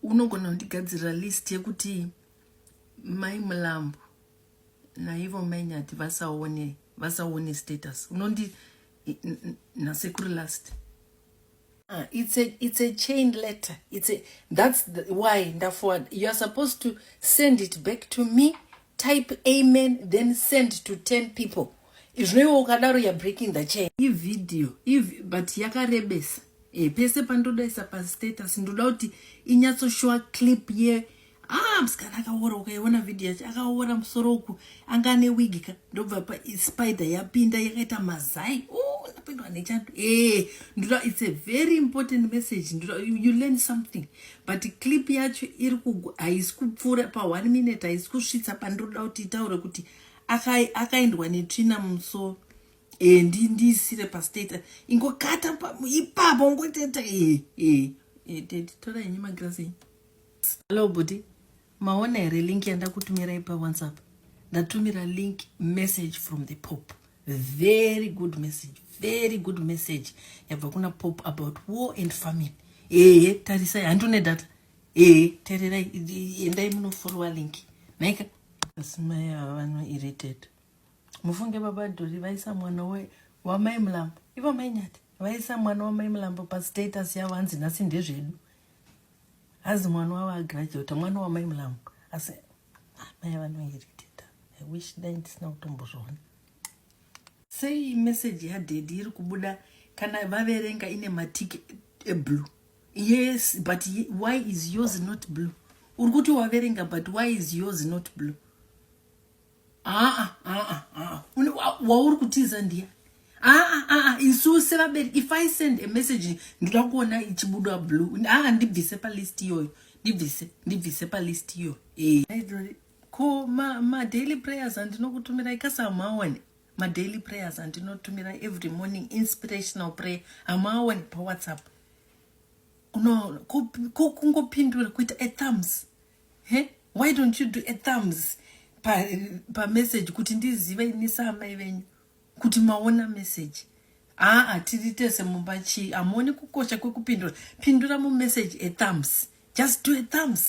unogona kundigadzirira list yekuti mai mulambo naivo mai nyati vasaone vasaone status unondi nasekuri last Uh, it's a it's a chain letter it's a that's the, why ndaforward you are supposed to send it back to me type amen then send to 10 people izvinoiwa ukadaro you're breaking the chain ivideo iv but yakarebesa e, pese pandodaisa pastatus ndoda kuti inyatsoshowa clip ye ah msikana akaora ukaiona video yacho akaora musoro uku anga ane wig ka ndobva pa spider yapinda yakaita mazai oh napindwa nechando e eh, ndoda it's a very important message ndoda you, you learn something but clip yacho iri kugu haisi kupfuura paone minute haisi kusvitsa pandiroda kuti itaure kuti akaendwa netsvina mumusoro e ndi ndiisire pastate ingokata ipapo ngoteta e e e tete tora henyu magirazi hallo buti maona here link yandakutumirai pawhatsapp ndatumira link message from the pope very good message very good message yabva kuna pope about war and famine ehe tarisai handune data ehe tererai endai munoforowa link naika asi mai ava vano irritate mufunge baba dhori vaisa mwana we wamai mulambo ivo mainyati vaisa mwana wamai mulambo pastatus yavo hanzi nhasi ndezvedu As mwana wavo agraduate mwana wamai mulamu asi amai vanoiritita i wish dai ndisina kutombozviona sei message yadhedhi iri kubuda kana vaverenga ine matiki eblue yes but why is yours not blue uri kuti waverenga but why is yours not blue aa aa aa wauri kutiza ndiya aa aa isu sevabereki if i send a message ndoda kuona ichibudwa blue aa ndibvise palist iyoyo ndibvise ndibvise palist iyoyo e. ko madaily ma prayers andinokutumira ikasamawani madaily prayers andinotumira every morning inspirational prayer amawani pawhatsapp no kungopindura kuita athumbs He? Why don't you do a thumbs pa, pa message kuti ndizive ini saamai venyu kuti maona message aa tiri tese mumba chii hamuoni kukosha kwekupindura pindura mumessage ethumbs just do a thumbs